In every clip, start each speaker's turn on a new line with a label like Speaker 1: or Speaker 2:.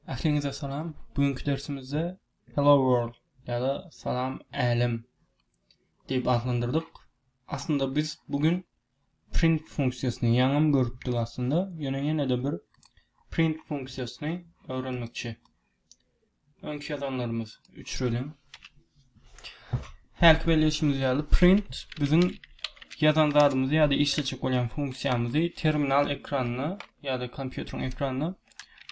Speaker 1: Ähliňize salam. Bu günki dersimizde Hello World ýa-da Salam Älem diýip atlandyrdyk. Aslynda biz bu gün print funksiýasyny ýaňam görüpdik aslynda. Ýöne ýene-de bir print funksiýasyny öwrenmekçi. Öňki ýazanlarymyz üçreliň. Häki belleýşimiz ýaly print biziň ýazan zadymyzy ýa-da işletjek bolýan funksiýamyzy terminal ekranyna ýa-da kompýuteriň ekranyna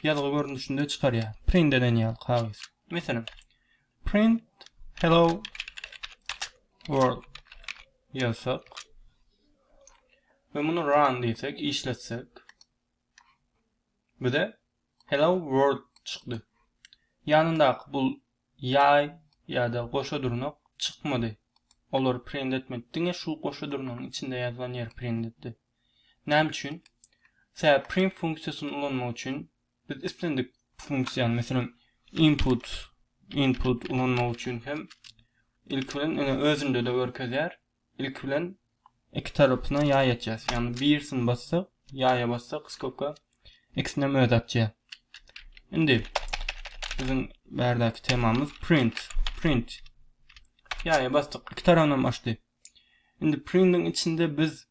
Speaker 1: ýazgy görnüşinde çykarýar. Print eden ýaly kagyz. Meselem, print hello world ýazsak we muny run diýsek, işletsek bize Hello World çykdy. Ýanyndaky bul ýaý ýa-da goşa durnak çykmady. Olary print etmedi. Diňe şu goşa durnagyň içinde ýazylan ýeri print etdi. Näme üçin? Sebäbi print funksiýasyny ulanmak üçin biz islendik funksiýany, meselem, input input ulanmak üçin hem ilki bilen ene özünde-de görkezýär, ilki bilen iki tarapyna ýaý açýas. Ýagny birisini bassak, ýaýa bassak, skopka ikisini hem öz açýar. Indi biziň bärdäki temamyz print. Print. Ýaýa basdyk, iki tarapyny hem açdy. Indi printiň içinde biz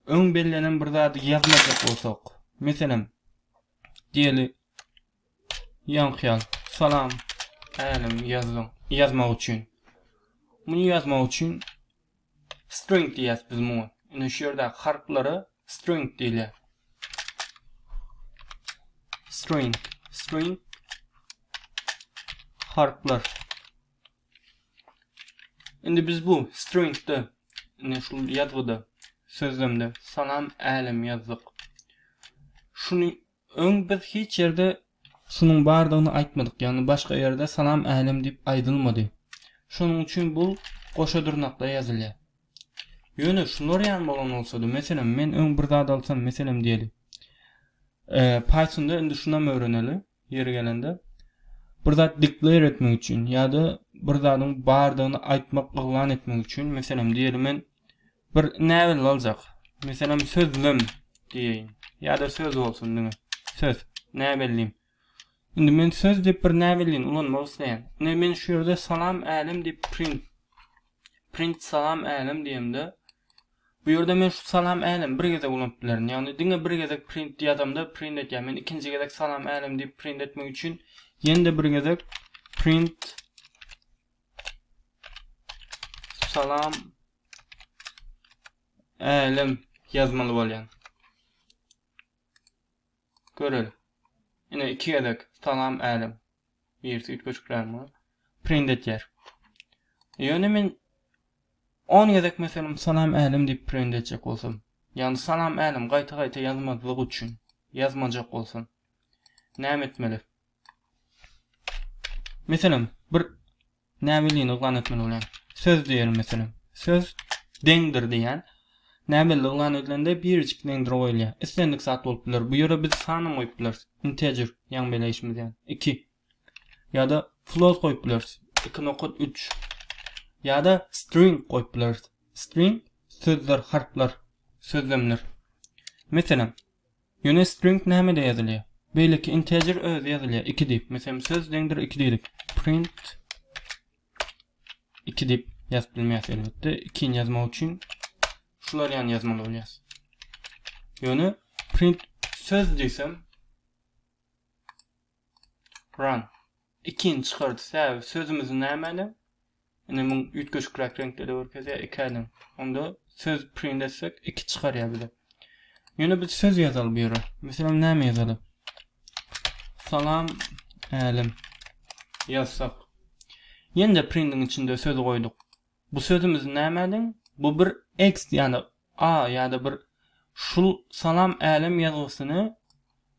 Speaker 1: öň bellenen bir zady ýazmajak bolsak, meselem, diýeli Ýaňkyýaz, salam! Älim, ýazgyň, ýazmak üçin. Muny ýazmak üçin string diýýäs biz muňa. Ine şu ýerdäki harplara string diýilýär. String, string harplar. Indi biz bu stringde, ine şu ýazgyda, sözlemde salam, älim ýazdyk. Şuny Öň biz hiç ýerde şunuň bardygyny aýtmadyk, ýagny başga ýerde salam älem diýip aýdylmady. Şonuň üçin bul goşa dyrnakda ýazylýar. Ýöne şular ýan bolan bolsady, meselem, men öň bir zat alsam, meselem diýeli, Pythonda indi şunam öwreneli, ýeri gelende, bir zat declare etmek üçin ýa-da bir zadyň bardygyny aýtmak, yglan etmek üçin, meselem, diýeli men Bir näbelli aljak. Meselem sözlem diýeýin. Ýa-da söz bolsun diňe. Söz. Näbellim. Indi men söz diýip bir näbellini ulanmak isleýän. Ine men şu ýerde salam älem diýip print print salam älem diýemde bu ýerde men şu salam älem bir gezek ulanyp bilerin. Ýagny diňe bir gezek print ýazamda print etýär. Men ikinji gezek salam älem diýip print etmek üçin ýene-de bir gezek print Salam Älem ýazmaly bolýan. Göreli. Ine iki gezek salam Älem. Birisi üýtgeşikräk bolup print etýär. Ýöne men 10 gezek meselem salam Älem diýip print etjek bolsam, ýagny salam Älem gaýta-gaýta ýazmazlyk üçin, ýazmajak bolsam näme etmeli? Meselem, bir näbellini yglan etmeli bolýan. Söz diýeli meselem. Söz deňdir diýýän. Näbelli yglan edilende birjik deňdir goýulýar. Islendik zat bolup biler. Bu ýere biz sanam goýup bileris. Integer, ýaňy beleýşimiz ýaly. 2. Ýa-da float goýup bileris. 2.3. Ýa-da string goýup bileris. String sözler, harplar, sözlemler. Meselem, Ýöne string nämede ýazylýar? Beýleki integer özi ýazylýar iki diýip, meselem söz deňdir iki diýdik. Print iki diýip ýazyp bilmeýäs elbetde. Ikini ýazmak üçin şular ýany ýazmaly bolýas. Ýöne print söz diýsem run Ikin çykardy säwet sözümiz nämälim? Ine muň üýtgeşikräk reňkde-de görkezýär iki ädim. Onda söz print etsek iki çykarýar bize. Ýöne biz söz ýazaly bu ýere. Meselem näme ýazaly? Salam älim ýazsak. Ýene-de printiň içinde sözi goýduk. Bu sözümiz nämälim? Bu bir ext ýa-da A ýa-da bir şul Salam Älem ýazgysyny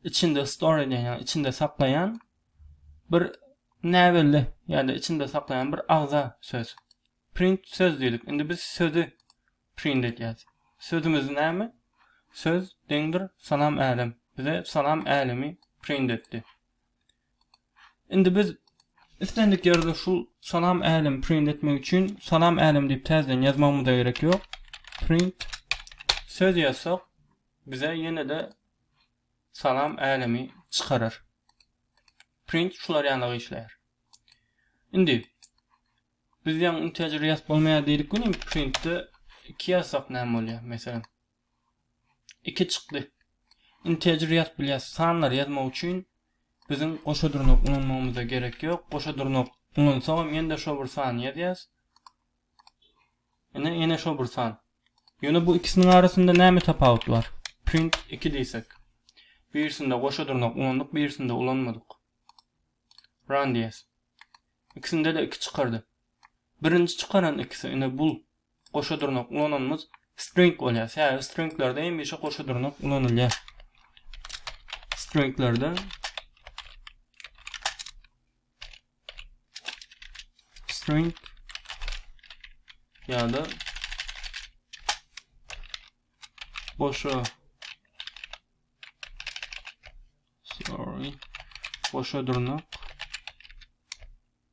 Speaker 1: içinde store edýän, ýagny içinde saklaýan bir näbelli ýa-da içinde saklaýan bir agza söz. Print söz diýdik. Indi biz sözi print edýäs. Sözümiz näme? Söz deňdir Salam Älem. Bize Salam Älemi print etdi. Indi biz islendik ýerde şu salam älem print etmek üçin salam älem diýip täzeden ýazmagymyza gerek ýok. Print söz ýazsak bize ýene-de salam älemi çykarar. Print şular ýaly işleýär. Indi biz ýaň integer ýazyp bolmaýar diýdik weli printde 2 ýazsak näme bolýar? Meselem iki çykly integer ýazyp bilýäs. Sanlary ýazmak üçin biziň goşa durnuk ulanmagymyza gerek ýok. Goşa durnuk ulansagam ýene-de şo bir sany ýazýas. Ine, ýene şo bir san. Ýöne bu ikisiniň arasynda näme tapawut bar? Print 2 diýsek. Birisinde goşa durnuk ulandyk, birisinde ulanmadyk. Run diýýäs. İkisinde-de 2 çykardy. Birinji çykaran ikisi, ine bul Goşa dyrnak ulananymyz string bolýar. Sebäbi stringlerde hemişe goşa dyrnak ulanylýar. Stringlerde string ya da boşa sorry boşa dırnak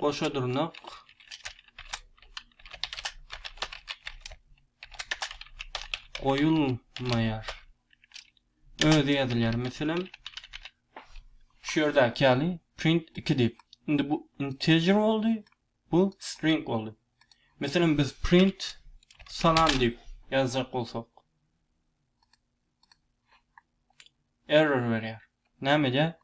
Speaker 1: Goşa dyrnak. Goýulmaýar. Özi ýazylýar meselem. Şu ýerdäki ýaly print 2 diýip. Indi bu integer boldy, bu string boldy. Meselem biz print salam diýip ýazjak bolsak. Error berýär. Näme edýär?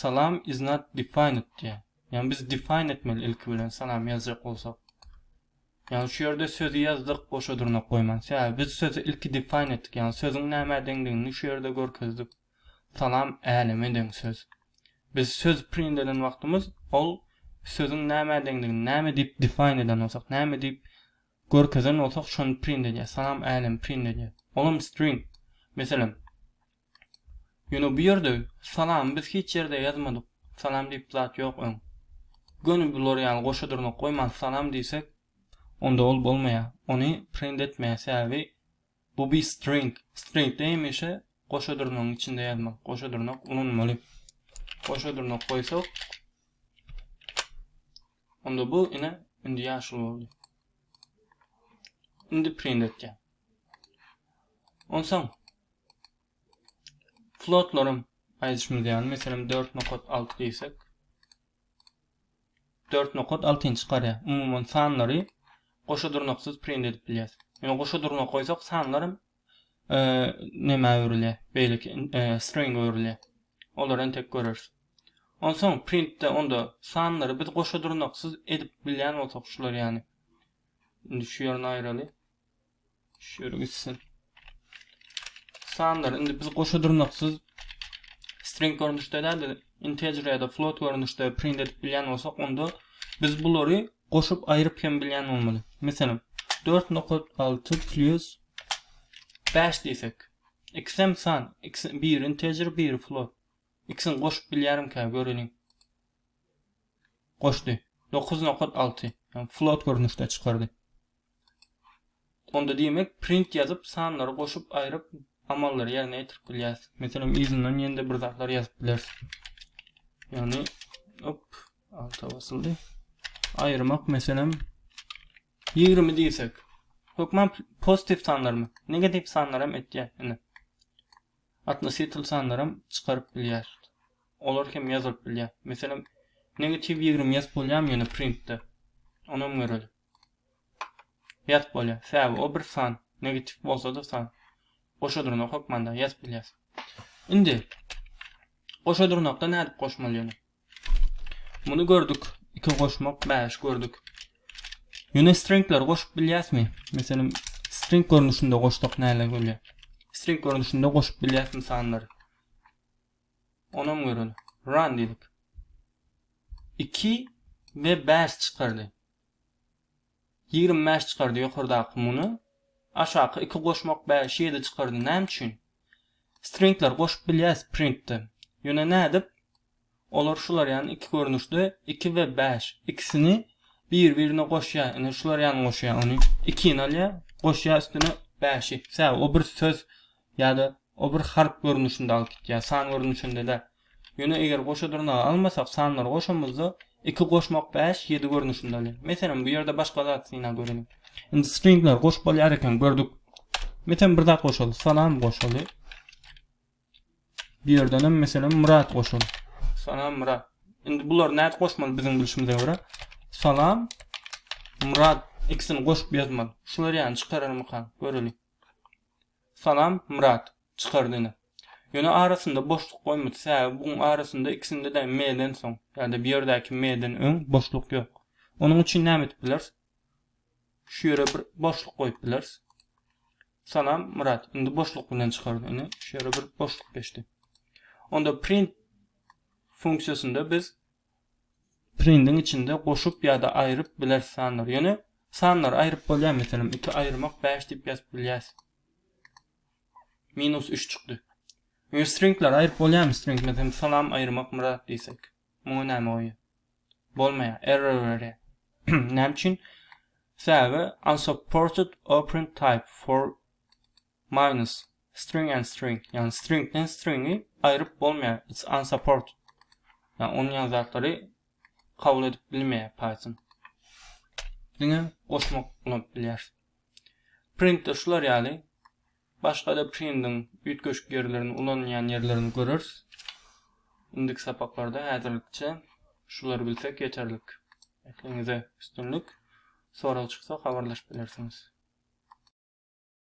Speaker 1: Salam is not defined diýýär. Ýagny biz define etmeli ilki bilen salam ýazjak bolsak. Ýagny şu ýerde sözi ýazdyk, goşa dyrnak goýman. Sebäbi biz sözi ilki define etdik. Ýagny sözüň nämä deňdigini şu ýerde görkezdik. Salam äleme deň söz. Biz söz print eden wagtymyz ol sözüň nämä deňdigini, näme diýip define eden bolsak, näme diýip görkezen bolsak, şony print edýär. Salam älem print edýär. Olam string. Meselem, Ýöne bu ýerde salamy biz hiç ýerde ýazmadyk. Salam diýip zat ýok öň. Göni bular ýaly goşa dyrnak goýman salam diýsek onda ol bolmaýar. Ony print etmeýär sebäbi bu bir string. Stringde hemişe goşa dyrnagyň içinde ýazmak, goşa dyrnak ulanmaly. Goşa dyrnak goýsak onda bu ine indi ýaşyl boldy. Indi print etýär. Onsoň Flotlaryň aýdyşymyz ýaly, meselem, dört nokat alty diýsek, dört nokat altyny çykarýar. Umuman sanlary goşa durnaksyz print edip bilýär. Ýöne goşa durnak goýsak, sanlar hem e, nämä öwrülýär? Beýleki e, string öwrülýär. Olary entek göreris. Onsoň printde onda sanlary biz goşa durnaksyz edip bilýän bolsak, şular ýaly. Indi şu ýerini aýraly. Şöyle gitsin. Sanlar. Indi biz goşa durnaksyz string görnüşde däl de integer ya da float görnüşde print edip bilýän bolsak, onda biz bulary goşup aýryp hem bilýän bolmaly. Meselem, 4.6 plus 5 diýsek. X hem san, x bir integer, bir float. X-ni goşup bilýärimkä göreliň. Goşdy. 9.6. Yani float görnüşde çykardy. Onda diýmek print ýazyp sanlary goşup aýryp amallary ýerine ýetirip bilýäs. Meselem yzyndan ýende bir zatlar ýazyp bileris. Ýagny op alta basyldy. Aýyrmak meselem 20 diýsek. Hökman pozitiv sanlarmy? Negativ sanlar hem etýär. Ine. Atnosytl sanlar hem çykaryp bilýär. Olar hem ýazylyp bilýär. Meselem negativ 20 ýazyp bolýarmy ýene printde? Onam görelim. Ýazyp bolýar. Sebäbi o bir san, negatiw bolsa-da san. Goşa dyrnak hökmanda ýazyp bilýäs. Indi goşa dyrnakda nädip goşmaly ýöne? Muny gördük. 2 goşmak 5 gördük. Ýöne stringleri goşup bilýäsmi? Meselem, string görnüşinde goşsak näler bolýar? String görnüşinde goşup bilýäsmi sanlary? Onam göreli. Run diýdik. 2 we 5 çykardy. Ýigrimi bäş çykardy ýokardaky muny aşaky iki goşmak bäş ýedi çykardy näme üçin? Stringler goşup bilýäs printde. Ýöne nädip? Olar şular ýan iki görnüşde iki we bäş ikisini bir birine goşýa ine şular ýan goşýa ony ikini alýa goşýa üstüne bäşi sebäbi o bir söz ýa-da o bir harp görnüşinde alyp gitýär, san görnüşinde däl. Ýöne eger goşa dyrnagy almasak, sanlary goşamyzda, iki goşmak bäş, ýedi görnüşinde alýar. Meselem, bu ýerde başga zat synap göreliň. Indi stringleri goşup bolýar ekeni, gördük. Meselem, bir zat goşaly, salam goşaly. Bu ýerdenem, meselem, Myrat goşaly. Salam, Myrat. Indi bulary nädip goşmaly biziň bilşimize görä? Salam, Myrat ikisini goşup ýazmaly. Şular ýany çykararmykan? Göreliň. Salam Myrat çykar dine. Ýöne arasynda boşluk goýmady säbäbi buň arasynda ikisindede me-den soň ýada bu ýerdäki me-den öň boşluk ýok. Onuň üçin näme edip bileris? Şu ýere bir boşluk goýup bileris. Salam Myrat indi boşluk bilen çykar dine. Şu ýere bir boşluk geçdi. Onda print funksiýasynda biz prindiň içinde goşup ýa-da aýryp bileris sanlary. Ýöne sanlary aýryp bolýar, meselem, iki aýyrmak bäş diýip ýazyp bilýäs. Minus üç çykdy. Ýöne stringleri aýryp bolýarmy? String, meselem, salam aýyrmak myrat diýsek. Muňa näme goýýar? Bolmaýar, error berýär. Näme üçin? Sebäbi unsupported operand type for Minus, String and string, ýagny stringden stringi aýryp bolmaýar, it's unsupported. Ýagny ony ýaly zatlary kabul edip bilmeýär Python. Diňe goşmak ulanyp bilýär. Printde şular ýaly başga-da printiň üýtgeşik ýerlerini ulanylýan ýerlerini göreris. Indiki sapaklarda häzirlikçe şulary bilsek ýeterlik. Ekliňize üstünlik. Sorag çyksa habarlaşyp bilersiňiz.